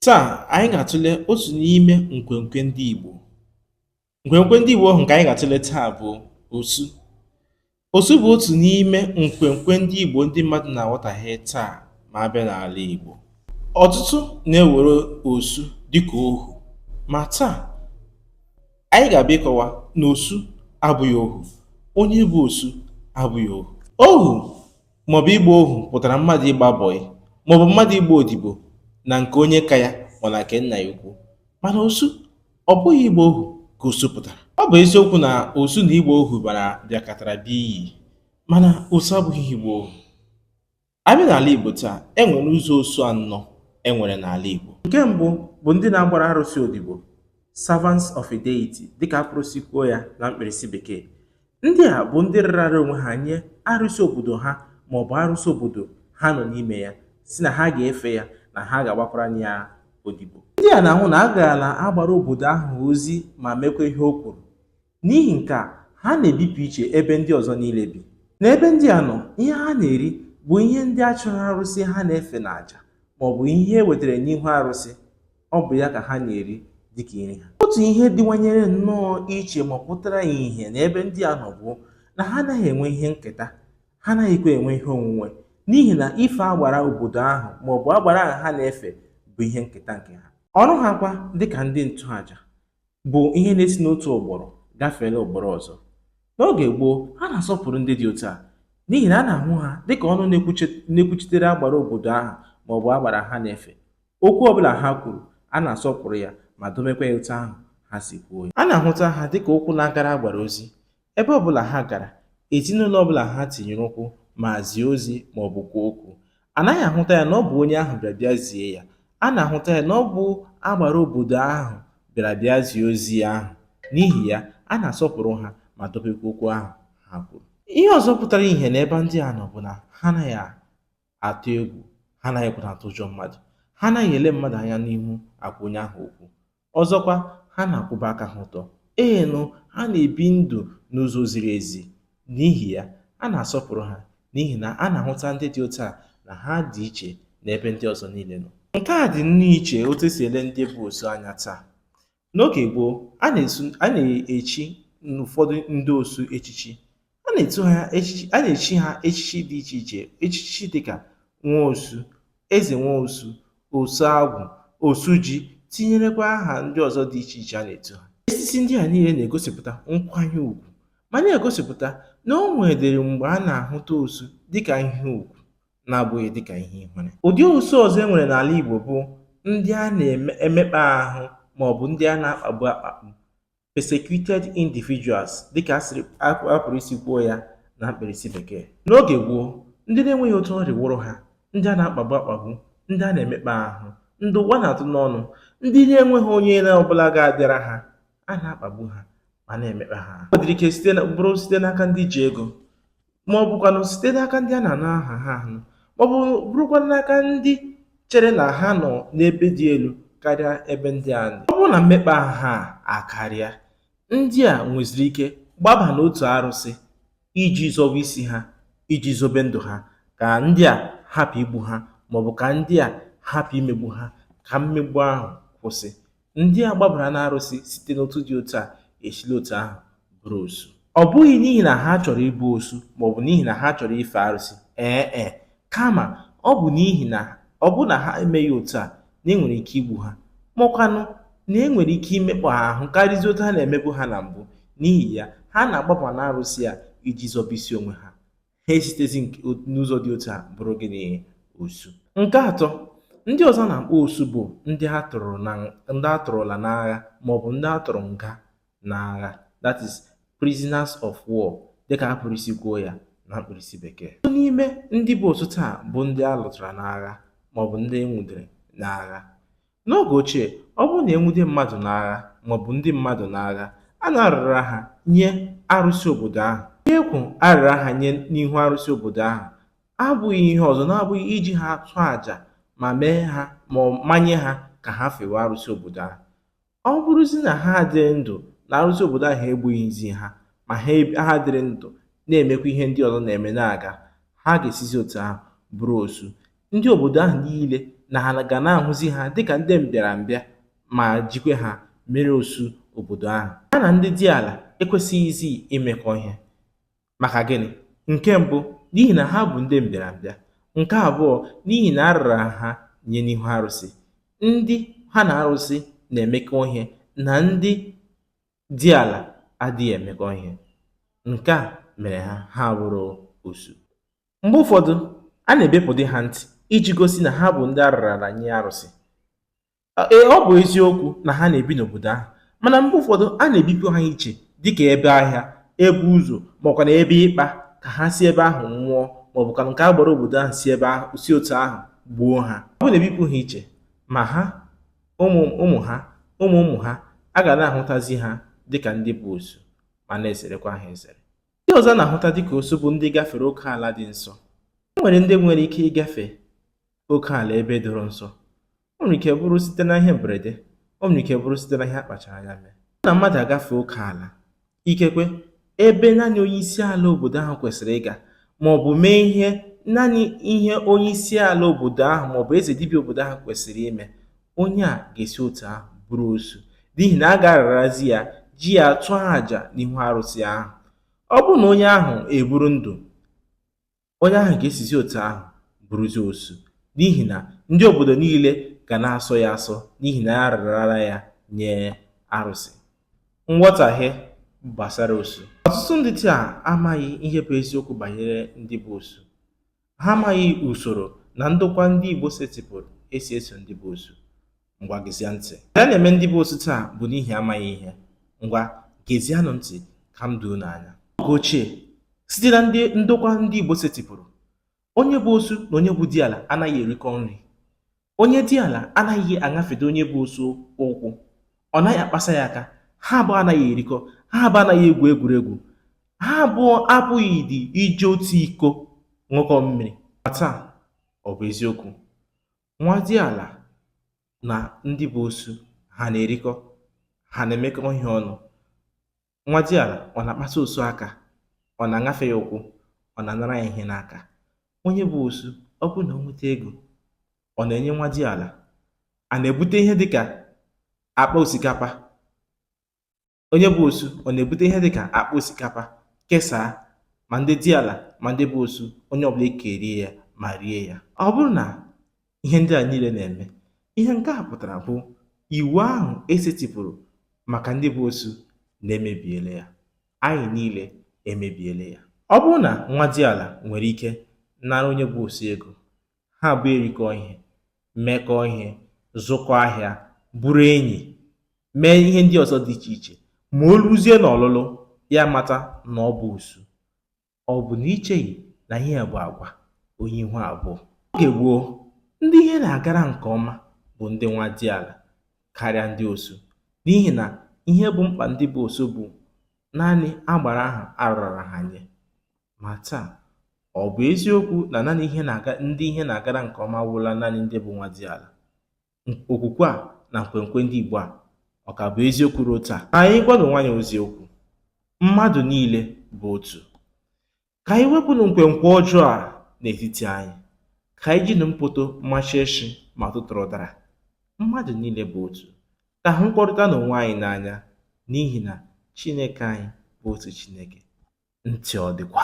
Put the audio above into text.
Taa, anyị ga-atụle otu n'ime nkwenkwe ndị Igbo. Nkwenkwe ndị Igbo ahụ nke anyị ga-atụle taa bụ osu. Osu bụ otu n'ime nkwenkwe ndị Igbo ndị mmadụ na-aghọtahie taa ma a bịa n'ala Igbo. Ọtụtụ na-ewere osu dịka ohu ma taa anyị ga-abịa ịkọwa na osu abụghị ohu. Onye bụ osu abụghị ohu. Ohu maọbụ ịgba ohu pụtara mmadụ ịgba bọyị maọbụ mmadụ ịgba odibo na nke onye ka ya ma na nke nna ya ukwu mana osu ọ bụghị ịgba ohu ka osu pụtara ọ bụ eziokwu na osu na ịgba ohu bara bịakọtara bịa iyi mana osu abụghị ịgba ohu a bịa n'ala Igbo taa e nwere ụzọ osu anọ e nwere n'ala Igbo nke mbụ bụ ndị na-agbara arụsị odibo servants of a deity dịka a pụrụ isi kwuo ya na mkpirisi bekee Ndị a bụ ndị rara onwe ha nye arụsị obodo ha ma ọ bụ arụsị obodo ha nọ n'ime ya sị na ha ga-efe ya na ha ga-agbakwara ya odibo ndị a na-ahụ na a gaala agbara obodo ahụ ozi ma mekwa ihe o kwuru n'ihi nke a ha na-ebipụ iche ebe ndị ọzọ niile bi n'ebe ndị a nọ ihe ha na-eri bụ ihe ndị a chụrụ arụsị ha na-efe n'aja ma ọ bụ ihe e wetara n'ihu arụsị ọ bụ ya ka ha na-eri dịka nri ha otu ihe dịwanyere nnọọ iche ma pụtara ihe n'ebe ndị a nọ bụ na ha anaghị enwe ihe nketa ha anaghịkwa enwe ihe onwunwe n'ihi na ife agbara obodo ahụ ma ọ bụ agbara ahụ ha na-efe bụ ihe nketa nke ha ọrụ ha kwa dịka ndị nchụaja bụ ihe na-esi n'otu ụgbọrọ gafeela ụgbọrọ ọzọ n'oge gboo a na-asọpụrụ ndị dị otu a n'ihi na a na-ahụ ha dịka ọnụ na-ekwuchitere agbara obodo ahụ ma ọ bụ agbara ha na-efe Okwu ọ bụla ha kwuru, a na-asọpụrụ ya ma dobekwa ya otu ahụ ha si kwuo ya. A na-ahụta ha dị ka ụkwụ na-agara agbara ozi. Ebe ọ bụla ha gara, ezinụlọ ọ bụla ha tinyere ụkwụ ma zie ozi ma ọ bụ kwuo okwu, a naghị ahụta ya na ọ bụ onye ahụ bịara bịa zie ya. A na-ahụta ya na ọ bụ agbara obodo ahụ bịara bịa zie ozi ahụ. N'ihi ya, a na-asọpụrụ ha ma dobekwa okwu ahụ ha kwuru. Ihe ọzọ pụtara ihe n'ebe ndị a nọ bụ na ha anaghị atụ egwu ha anaghịkwa atụ ụjọ mmadụ ha anaghị ele mmadụ anya n'ihu agwa onye ahụ okwu ọzọkwa ha na-akwụba aka ha ọtọ ee nụ ha na-ebi ndụ n'ụzọ ziri ezi n'ihi ya a na-asọpụrụ ha n'ihi na a na-ahụta ndị dị otu a na ha dị iche n'ebe ndị ọzọ niile nọ nke a dị nnọọ iche otu e si ele ndị bụ osu anya taa N'oge gboo, a na-echi ụfọdụ ndị osu echichi. A na-echi ha echichi dị iche iche echichi dịka Nwaosu, Ezenwaosu, Osuagwụ, Osuji tinyerekwa aha ndị ọzọ dị iche iche a na-etu ha. Echichi ndị a niile na-egosipụta nkwanye ugwu ma na-egosipụta na o nwedịrị mgbe a na-ahụta osu dịka ihe ugwu na-abụghị dị ka ihe ihere. Ụdị osu ọzọ e nwere n'ala Igbo bụ ndị a na-emekpa ahụ maọbụ ndị a na-akpagbu akpagbu, persecuted individuals, dịka a pụrụ isi kwuo ya na mkpirisi bekee. N'oge gboo, ndị na-enweghị otu ọ rịwụrụ ha, ndị a na-akpagbu akpagbu, ndị a na-emekpa ahụ, ndị ụwa na-atụ n'ọnụ, ndị na-enweghị onye ọ bụla ga-abịara ha, a na-akpagbu ha ma na-emekpa ha ahụ. O nwedịrị ike bụrụ site n'aka ndị ji ego, ma ọ bụkwanụ site n'aka ndị a na-anụ aha ha anụ, ma ọ bụ bụrụkwa n'aka ndị chere na ha nọ n'ebe dị elu karịa ebe ndị a nọ. Ọ bụrụ na mmekpa ahụ a akarịa, ndị a nweziri ike gbaba n'otu arụsị iji zọwa isi ha, iji zobe ndụ ha, ka ndị a hapụ igbu ha ma ọ bụ ka ndị a hapụ imegbu ha, ka mmegbu ahụ kwụsị. Ndị a gbabara n'arụsị site n'otu dị otu a esila otu ahụ bụrụ osu. Ọ bụghị n'ihi na ha chọrọ ịbụ osu ma ọ bụ n'ihi na ha chọrọ ife arụsị, ee e, kama ọ bụ n'ihi na ọ bụrụ na ha emeghị otu a na e nwere ike igbu ha, ma ọkwanụ na e nwere ike imekpa ha ahụ karịzi otu a na-emebu ha na mbụ. N'ihi ya, ha na-agbaba n'arụsị a iji zọba isi onwe ha. ha esitezi n'ụzọ dị otu a bụrụ gịnị osu nke atọ ndị ọzọ a na-akpọ osu bụ ndị a tụrụ na ndị a tụrụla n'agha maọbụ ndị a tụrụ nga n'agha that is prisoners of war dịka a pụrụ isi kwuo ya na mkpirisi bekee ọtụtụ n'ime ndị bụ osu taa bụ ndị a lụtara n'agha maọbụ ndị e nwudere n'agha N'oge ochie, ọ bụrụ na e nwude mmadụ n'agha maọbụ ndị mmadụ n'agha, a na-arara ha nye arụsị obodo ahụ. Ihe e kwuru a rara ha nye n'ihu arụsị obodo ahụ abụghị ihe ọzọ na-abụghị iji ha chụọ aja ma mee ha ma ọ manye ha ka ha fewe arụsị obodo ahụ. Ọ bụrụzi na ha adịrị ndụ na arụsị obodo ahụ egbughịzi ha ma ha eb- ha dịrị ndụ na-emekwa ihe ndị ọzọ na-eme na-aga, ha ga-esizi otu ahụ bụrụ osu. Ndị obodo ahụ niile na ha ga na-ahụzi ha dịka ndị mbịarambịa ma jikwe ha mere osu obodo ahụ. Ha na ndị diala ekwesịghịzi imekọ ihe. Maka gịnị? Nke mbụ, n'ihi na ha bụ ndị mbịarambịa. Nke abụọ, n'ihi na a rara ha nye n'ihu arụsị. Ndị ha na arụsị na-emekọ ihe na ndị diala adịghị emekọ ihe. Nke a mere ha ha abụrụ osu. Mgbe ụfọdụ, a na-ebepụdị ha ntị iji gosi na ha bụ ndị a rarala nye arụsị. Ee, ọ bụ eziokwu na ha na-ebi n'obodo ahụ, mana mgbe ụfọdụ a na-ebipụ ha iche dị ka ebe ahịa, ebe ụzọ ma ọ kwanụ ebe ikpa ka ha si ebe ahụ nwụọ ma ọ bụkwanụ ka agbara obodo ahụ si ebe ahụ si otu ahụ gbuo ha. Ọ bụrụ na e bipụ ha iche, ma ha, ụmụ ha, ụmụ ụmụ ha, a ga na-ahụtazi ha dị ka ndị bụ osu ma na-ezerekwa ha ezere. Ndị ọzọ na-ahụta dịka osu bụ ndị gafere oke ala dị nsọ. E nwere ndị nwere ike ịgafe oke ala ebe doro nsọ. O nwere ike bụrụ site na ihe mberede, o nwere ike bụrụ site na ihe a kpachara anya mee. Na mmadụ agafe oke ala, ikekwe ebe naanị onye isi ala obodo ahụ kwesịrị ịga, ma ọ bụ mee ihe naanị ihe onye isi ala obodo ahụ ma ọ bụ eze dibịa obodo ahụ kwesịrị ime, onye a ga-esi otu ahụ bụrụ osu n'ihi na a ga-ararazi ya ji ya tụọ àjà n'ihu arụsị ahụ ọ bụrụ na onye ahụ eburu ndụ onye ahụ ga-esizi otu ahụ bụrụzi osu n'ihi na ndị obodo niile ga na-asọ ya asọ n'ihi na a rarara ya nye arụsị nghọtahie gbasara osu ọtụtụ ndị taa amaghị ihe bụ eziokwu banyere ndị bụ osu Ha amaghị usoro na ndokwa ndị Igbo setịpụrụ e si eso ndị bụ osu. Ngwa gezie ntị. Ihe a na-eme ndị bụ osu taa bụ n'ihi amaghị ihe. Ngwa gezianụ ntị ka m doo unu anya. Oge ochie, site na ndị ndokwa ndị Igbo setịpụrụ, onye bụ osu na onye bụ diala anaghị erikọ nri. Onye diala anaghị aṅafede onye bụ osu ụkwụ, ọ naghị akpasa ya aka, ha abụọ anaghị erikọ, ha abụọ anaghị egwu egwuregwu, ha abụọ apụghịdị iji otu iko ṅụkọọ mmiri. Ma taa, ọ bụ eziokwu. Nwa diala na ndị bụ osu ha na-erikọ, ha na-emekọ ihe ọnụ. Nwa diala ọ na-akpasa osu aka, ọ na-aṅafe ya ụkwụ, ọ na-anara ya ihe n'aka. Onye bụ osu, ọ bụrụ na o nweta ego, ọ na-enye nwa diala. A na-ebute ihe dịka akpa osikapa. Onye bụ osu, ọ na-ebute ihe dịka akpa osikapa kesaa ma ndị diala ma ndị bụ osu, onye ọbụla ekerie ya ma rie ya. Ọ bụrụ na ihe ndị a niile na-eme ihe nke a pụtara bụ iwu ahụ e setịpụrụ maka ndị bụ osu na e mebiele ya anyị niile emebiele ya ọ bụrụ na nwa diala nwere ike nara onye bụ osu ego ha abụọ erikọọ ihe mekọọ ihe zụkọ ahịa bụrụ enyi mee ihe ndị ọzọ dị iche iche ma o ruzie n'ọlụlụ ya mata na ọ bụ osu Ọ bụ na i cheghị na ihe a bụ agwa onye ihu abụọ? Oge gboo, ndị ihe na-agara nke ọma bụ ndị nwa diala karịa ndị osu n'ihi na ihe bụ mkpa ndị bụ osu bụ naanị agbara ahụ a rarara ha nye. Ma taa, ọ bụ eziokwu na naanị ndị ihe na-agara nke ọma wụla naanị ndị bụ nwa dị ala? okwukwe a na nkwenkwe ndị Igbo a ọ ka bụ eziokwu ruo taa ka anyị gwanụ onwe anyị eziokwu mmadụ niile bụ otu ka anyị wepụnụ nkwenkwe ọjọọ a n'etiti anyị ka anyị jinụ mpoto machie nshị ma tụtụrụ ụdara mmadụ niile bụ otu ka a hụkọrịtanụ onwe anyị n'anya n'ihi na Chineke anyị bụ otu Chineke ntị ọ dịkwa